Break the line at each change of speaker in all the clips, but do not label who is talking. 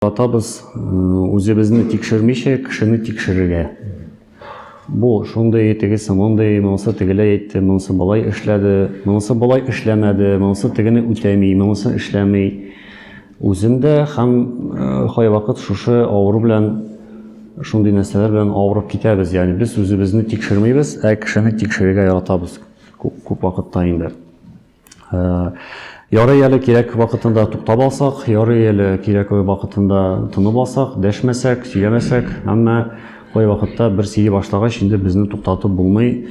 Атабыз үзебезне тикшермичә кешене тикшерергә. Бу шундый, тегесе мондый, монысы тегеләй әйтте, монысы болай эшләде, монысы болай эшләмәде, монысы тегене үтәми, монысы эшләми. Үземдә һәм кайвакыт шушы авыру белән шундый нәрсәләр белән авырып китәбез. Ягъни без үзебезне тикшермибез, ә кешене тикшерергә яратабыз күп вакытта инде. Ярый әле кирәк вакытында туктап алсак, ярый әле кирәк вакытында тынып алсак, дәшмәсәк, сөйләмәсәк, әмма кай вакытта бер сөйли башлагач, инде безне туктатып булмый.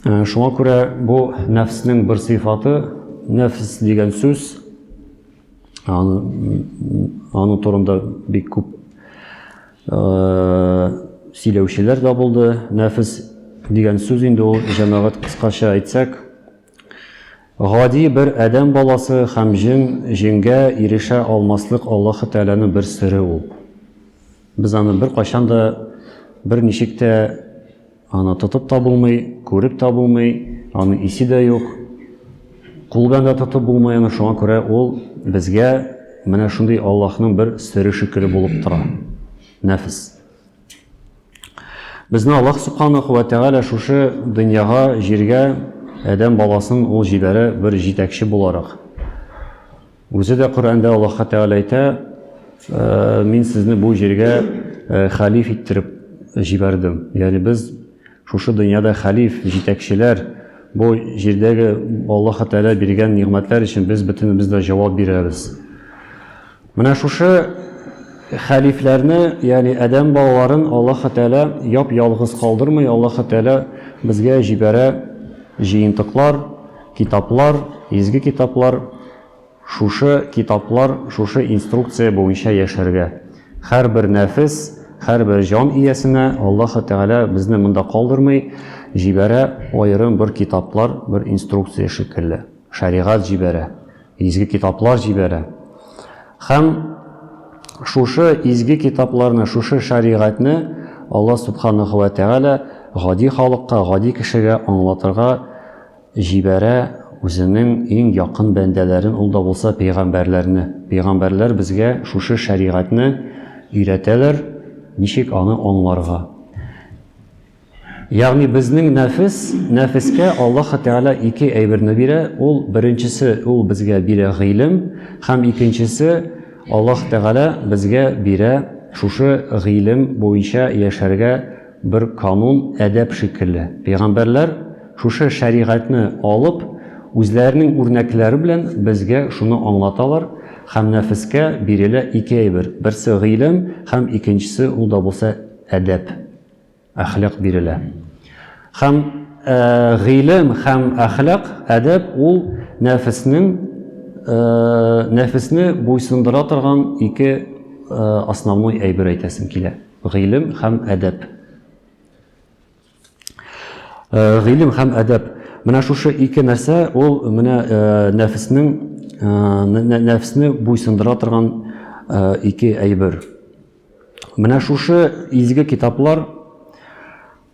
Э, шуңа күрә бу нәфснең бер сыйфаты, нәфс дигән сүз, аны, аны турында бик күп э, сөйләүчеләр дә булды. Нәфс дигән сүз инде ул җәмәгать кыскача әйтсәк, Гади бер адәм баласы һәм җен, җенгә ирешә алмаслык Аллаһы Тәгаләнең бер сере ул. Без аны беркайчан да, берничек тә аны тотып та булмый, күреп тә булмый, аның исе дә юк. Кул белән дә тотып булмый аны, шуңа күрә ул безгә менә шундый Аллаһның бер сере шикелле булып тора, нәфес. Безне Аллаһ Субханаху ва Тәгалә шушы дөньяга, җиргә адәм баласын ул җибәрә бер җитәкче буларак. Үзе дә Коръәндә Аллаһка Тәгалә әйтә, «Э, мин сезне бу җиргә э, халиф иттереп җибәрдем. Ягъни без Шушы дөньяда хәлиф, җитәкчеләр, бу җирдәге Аллаһы Тәгалә биргән нигъмәтләр өчен без бөтенебез дә җавап бирәбез. Менә шушы хәлифләрне, ягъни адәм балаларын Аллаһы Тәгалә яп-ялгыз калдырмый, Аллаһы Тәгалә безгә җибәрә җыентыклар, китаплар, изге китаплар. Шушы китаплар, шушы инструкция буенча яшәргә. Һәрбер нәфес, һәрбер җан иясенә Аллаһы Тәгалә безне монда калдырмый, җибәрә аерым бер китаплар, бер инструкция шикелле. Шәригать җибәрә, изге китаплар җибәрә. Һәм шушы изге китапларны, шушы шәригатьне Аллаһ Субханаһу вә Тәгалә гади халыкка, гади кешегә аңлатырга Җибәрә Үзенең иң якын бәндәләрен, ул да булса пәйгамбәрләрне. Пәйгамбәрләр безгә шушы шәригатьне өйрәтәләр, ничек аны аңларга. Ягъни безнең нәфес, нәфескә Аллаһы Тәгалә ике әйберне бирә, ул, беренчесе, Ул безгә бирә гыйлем һәм икенчесе, Аллаһы Тәгалә безгә бирә шушы гыйлем буенча яшәргә Бер канун, әдәп шикелле. Пәйгамбәрләр шушы шәригатьне алып, үзләренең үрнәкләре белән безгә шуны аңлаталар, һәм нәфескә бирелә ике әйбер, берсе гыйлем һәм икенчесе, ул да булса, әдәп, әхлак бирелә. Һәм гыйлем һәм әхлак, әдәп, ул нәфеснең, нәфесне буйсындыра торган ике основной әйбер әйтәсем килә. Гыйлем һәм әдәп. Э, гыйлем һәм әдәп. Менә шушы ике нәрсә ул менә э, нәфеснең э, нәфесне буйсындыра торган ике әйбер. Менә шушы изге китаплар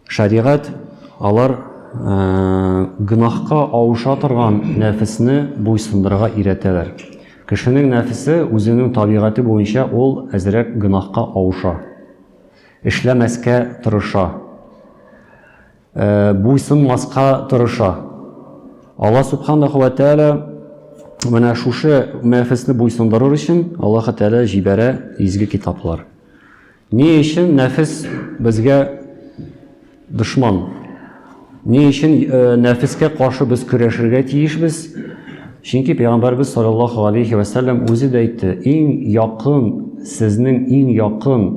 Шәригать алар гөнаһка авыша торган нәфесне буйсындырырга өйрәтәләр. Кешенең нәфесе үзенең табигате буенча ул әзрәк гөнаһка авыша, эшләмәскә тырыша, буйсынмаска тырыша. Алла Сүбхәнәһү вә Тәгалә менә шушы нәфесне буйсындырыр өчен Аллаһы Тәгалә җибәрә изге китаплар. Ни өчен нәфес безгә дошман? Ни өчен э, нәфескә каршы без көрәшергә тиешбез? Чөнки пәйгамбәрбез саллаллаһу алейхи ва саллям үзе дә әйтте, иң якын сезнең иң якын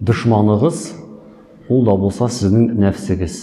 дошманыгыз ул да булса сезнең нәфсегез.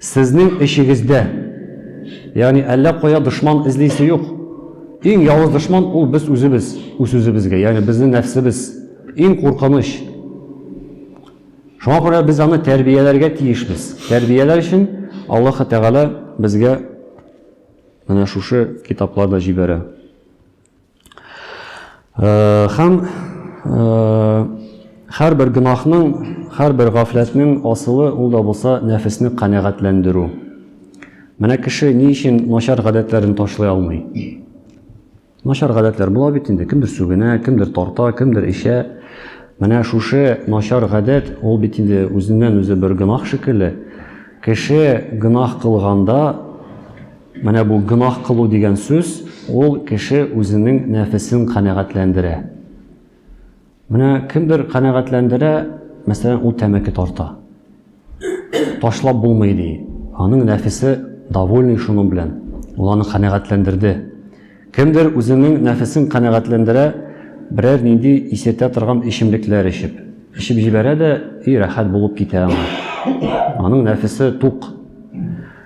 Сезнең эчегездә, ягъни әллә кая дошман эзлисе юк. Иң явыз дошман ул без үзебез, үз-үзебезгә, ягъни безнең нәфсебез, иң куркыныч. Шуңа күрә без аны тәрбияләргә тиешбез. Тәрбияләр өчен Аллаһы Тәгалә безгә менә шушы китапларны җибәрә. Хәм хәр бер гынахның, хәр бер гафләтнең асылы ул да булса нәфесне канәгатьләндерү. Менә кеше ни өчен начар гадәтләрен ташлый алмый? Начар гадәтләр була бит инде, кемдер сүгенә, кемдер тарта, кемдер эчә. Менә шушы начар гадәт ул бит инде үзеннән-үзе бер гынах шикелле. Кеше гынах кылганда, Менә бу гөнаһ кылу дигән сүз, ул кеше үзенең нәфесен канәгатьләндерә. Менә кемдер канәгатьләндерә, мәсәлән, ул тәмәке тарта. Ташлап булмый ди. Аның нәфесе довольный шуның белән. Ул аны канәгатьләндерде. Кемдер үзенең нәфесен канәгатьләндерә, берәр нинди исертә торган эчемлекләр эчеп. Эчеп җибәрә дә и рәхәт булып китә аңа. Аның нәфесе тук.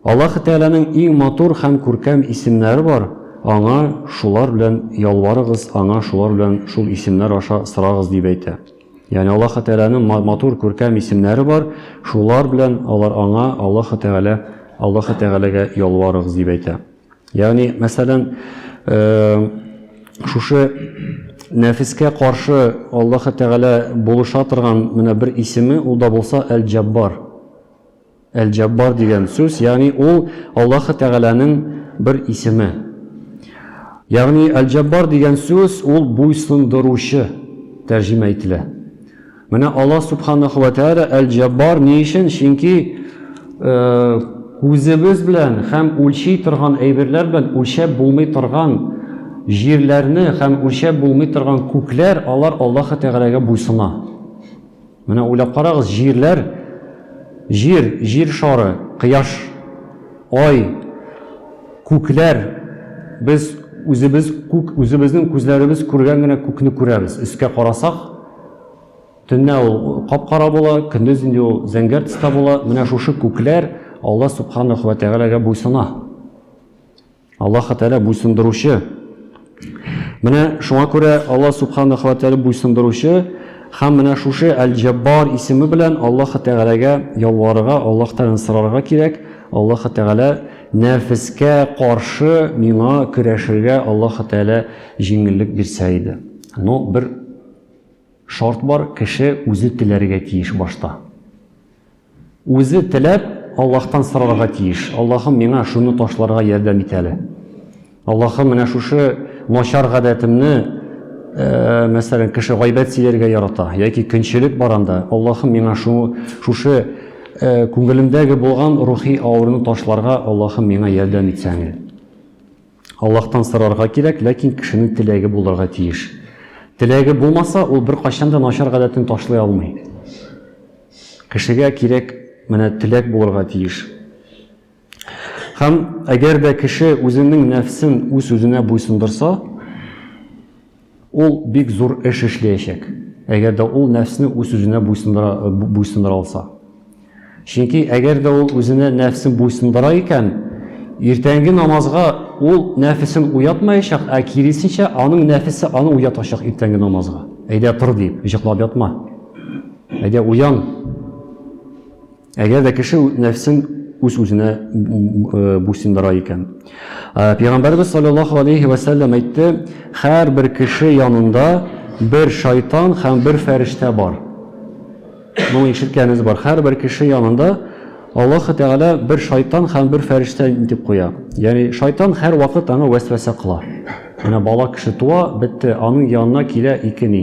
Аллаһы Тәгаләнең иң матур һәм күркәм исемнәре бар, Аңа шулар белән ялварыгыз, Аңа шулар белән шул исемнәр аша сорагыз, дип әйтә. Ягъни Аллаһы Тәгаләнең матур, күркәм исемнәре бар, шулар белән алар Аңа, Аллаһы Тәгалә, Аллаһы Тәгаләгә ялварыгыз, дип әйтә. Ягъни, мәсәлән, шушы нәфескә каршы Аллаһы Тәгалә булыша торган менә бер исеме, ул да булса Әл-Җәббар. Әл-Җаббар дигән сүз, ягъни ул Аллаһы Тәгаләнең бер исеме. Ягъни Әл-Җаббар дигән сүз ул буйсындыручы тәрҗемә ителә. Менә Аллаһ Субханаху ва Тәгалә Әл-Җаббар ни өчен? Чөнки күзебез белән һәм үлчи торган әйберләр белән үлчәп булмый торган җирләрне һәм үлчәп булмый торган күкләр, алар Аллаһы Тәгаләгә буйсына. Менә уйлап карагыз, җирләр, Җир, Җир шары, Кояш, Ай, күкләр, без үзебез күк, үзебезнең күзләребез күргән генә күкне күрәбез. Өскә карасак, төнлә ул кап-кара була, көндез инде ул зәңгәр төстә була. Менә шушы күкләр Алла Субханаху вә Тәгаләгә буйсына. Аллаһы Тәгалә буйсындыручы. Менә шуңа күрә Аллаһ Субханаһу ва Тәгалә буйсындыручы һәм менә шушы Әл-Җаббар исеме белән Аллаһы Тәгаләгә ялварырга, Аллаһтан сорарга кирәк. Аллаһы Тәгалә нәфескә каршы миңа көрәшергә Аллаһы Тәгалә җиңеллек бирсә иде. Но бер шарт бар, кеше үзе теләргә тиеш башта. Үзе теләп, Аллаһтан сорарга тиеш, Аллаһым, миңа шуны ташларга ярдәм ит әле. Аллаһым, менә шушы начар гадәтемне, мәсәлән, кеше гайбәт сөйләргә ярата, яки көнчелек бар анда, Аллаһым, миңа шушы күңелемдәге булган рухи авыруны ташларга, Аллаһым, миңа ярдәм итсәң әле. Аллаһтан сорарга кирәк, ләкин кешенең теләге булырга тиеш. Теләге булмаса, ул беркайчан да начар гадәтен ташлый алмый. Кешегә кирәк, менә теләк булырга тиеш. Һәм әгәр дә кеше үзенең нәфсен үз-үзенә буйсындырса, Ул бик зур эш эшләячәк, әгәр дә ул нәфсне үз сүзенә буйсындыра алса. Чөнки әгәр дә ул үзенә нәфсен буйсындыра икән, иртәнге намазга ул нәфесен уятмаячак, ә киресенчә, аның нәфесе аны уятачак иртәнге намазга. Әйдә, тор, диеп, җыклап ятма. Әйдә, уян! Әгәр дә кеше нәфсен үз-үзенә буйсындыра икән. Пәйгамбәрбез саллаллаһу алейһи вә сәлләм әйтте, һәрбер кеше янында бер шайтан һәм бер фәрештә бар. Моны ишеткәнегез бар. Һәрбер кеше янында Аллаһы Тәгалә бер шайтан һәм бер фәрештә итеп куя. Ягъни шайтан һәрвакыт аңа вәсвәсә кыла. Менә бала кеше туа, бетте, аның янына килә ике ни?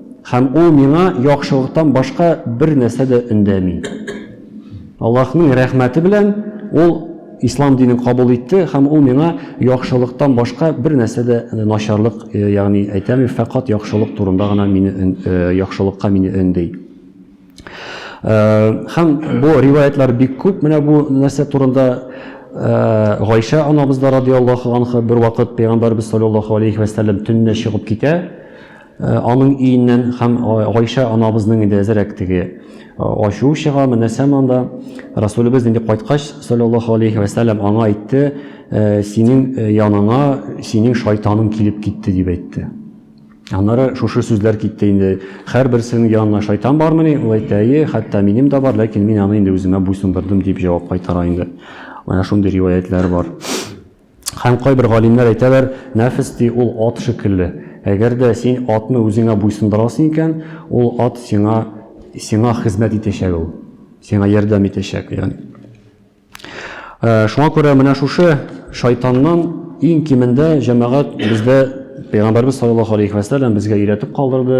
Һәм ул миңа яхшылыктан башка бер нәрсә дә өндәми. Аллаһның рәхмәте белән ул ислам динен кабул итте һәм ул миңа яхшылыктан башка бер нәрсә дә начарлык, э, ягъни әйтәме, фәкать яхшылык турында гына мине э, яхшылыкка мине өнди. Э, һәм бу риваятлар бик күп менә бу нәрсә турында Э, Гайша анабыз да радиаллаху анха бер вакыт пәйгамбәрбез саллаллаху алейхи ва саллям төнне чыгып китә. Э, аның өеннән һәм Гайшә анабызның инде әзерәк теге э, ачуы чыга, менәсәм анда Расулебез инде кайткач, саллаллаху алейхи вәсәләм аңа әйтте, «Э, синең яныңа синең шайтаның килеп китте дип әйтте. Аннары шушы сүзләр китте инде. Һәрберсенең янына шайтан бармыни? Ул әйтте, әйе, хәтта минем дә бар, ләкин мин аны инде үземә буйсындырдым дип җавап кайтара инде. Менә шундый риваятләр бар. Һәм кайбер галимнәр әйтәләр, Нәфес, ди, ул ат шикелле. Әгәр дә син атны үзеңә буйсындырасың икән, ул ат сиңа, сиңа хезмәт итәчәк ул, сиңа ярдәм итәчәк, ягъни. Шуңа күрә менә шушы шайтаннан иң кимендә җәмәгать бездә Пәйгамбәрбез саллаллаһу алейхи вә сәлләм безгә өйрәтеп калдырды,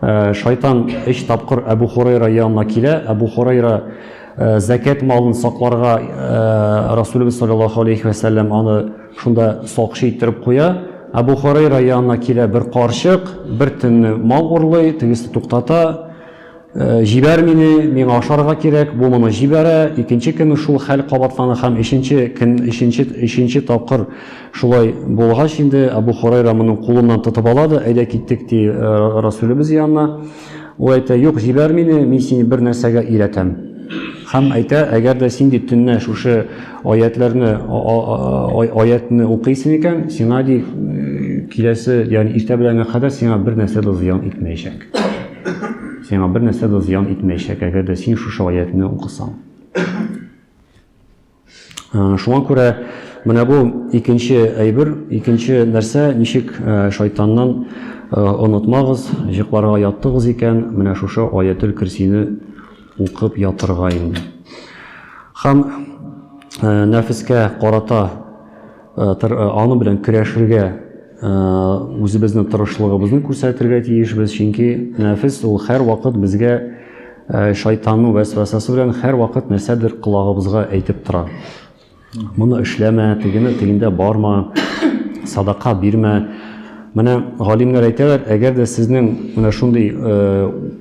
Шайтан өч тапкыр Әбу Хурайра янына килә. Әбу Хурайра зәкәт малын сакларга Расулыбыз саллаллаху алейхи ва саллям аны шунда сакчы иттереп куя. Әбу Хурайра янына килә бер карчык, бер төнне мал урлый, тегесе туктата. Җибәр мине, миңа ашарга кирәк. Бу моны җибәрә. Икенче көнне шул хәл кабатлана һәм өченче көн, өченче, өченче тапкыр Шулай булгач инде, Әбү Һорайра моның кулыннан тотып ала да, Әйдә киттек, ди, Расүлебез янына. Ул әйтә, Юк, җибәр мине, мин сине бер нәрсәгә өйрәтәм. Һәм әйтә, Әгәр дә син, ди, төнлә шушы аятьләрне, аятьне укыйсың икән, сиңа, ди, киләсе, ягъни иртә беләнгә кадәр сиңа бер нәрсә дә зыян итмәячәк. Сиңа бер нәрсә дә зыян итмәячәк, әгәр дә син шушы аятьне укысаң. Шуңа күрә менә бу икенче әйбер, икенче нәрсә, ничек шайтаннан онытмагыз, җыкларга яттыгыз икән, менә шушы Аятел Көрсине укып ятырга инде. Һәм нәфескә карата Э, э, аны белән көрәшергә э, үзебезнең тырышлыгыбызны күрсәтергә тиешбез чөнки нәфес ул һәрвакыт безгә шайтанның вәсвәсәсе белән һәрвакыт нәрсәдер колагыбызга әйтеп тора моны эшләмә тегене тегендә барма садака бирмә менә галимнәр әйтәләр әгәр дә сезнең менә шундый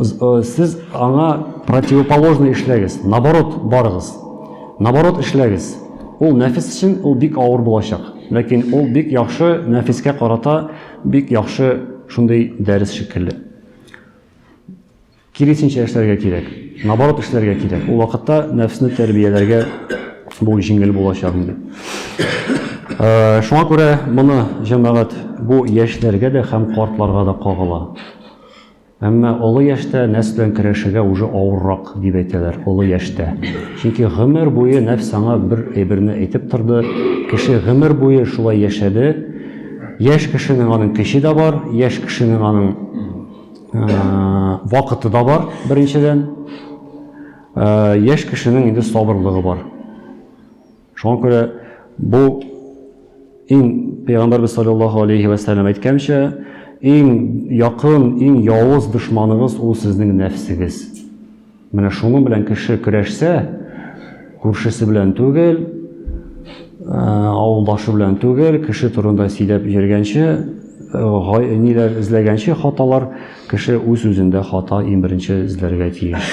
Э, сез аңа противоположный эшләгез наоборот барыгыз наоборот эшләгез ул нәфис өчен ул бик авыр булачак ләкин ул бик яхшы нәфискә карата бик яхшы шундый дәрес шикелле киресенчә эшләргә кирәк наоборот эшләргә кирәк ул вакытта нәфсне тәрбияләргә бу җиңел булачак инде э, шуңа күрә моны җәмәгать бу яшьләргә дә һәм картларга да кагыла Әмма олы яшьтә нәфс белән көрәшергә уже авыррак, дип әйтәләр, олы яшьтә. Чөнки гомер буе нәфс аңа бер әйберне әйтеп торды, кеше гомер буе шулай яшәде. Яшь кешенең аның көче дә бар, яшь кешенең аның вакыты да бар, беренчедән. Яшь кешенең инде сабырлыгы бар. Шуңа күрә бу иң Пәйгамбәрбез саллаллаһу алейһи вә сәлләм әйткәнчә, иң якын, иң явыз дошманыгыз ул сезнең нәфсегез. Менә шуның белән кеше көрәшсә, күршесе белән түгел, авылдашы белән түгел, кеше турында сөйләп йөргәнче, ниләр эзләгәнче хаталар, кеше үз-үзендә хата иң беренче эзләргә тиеш.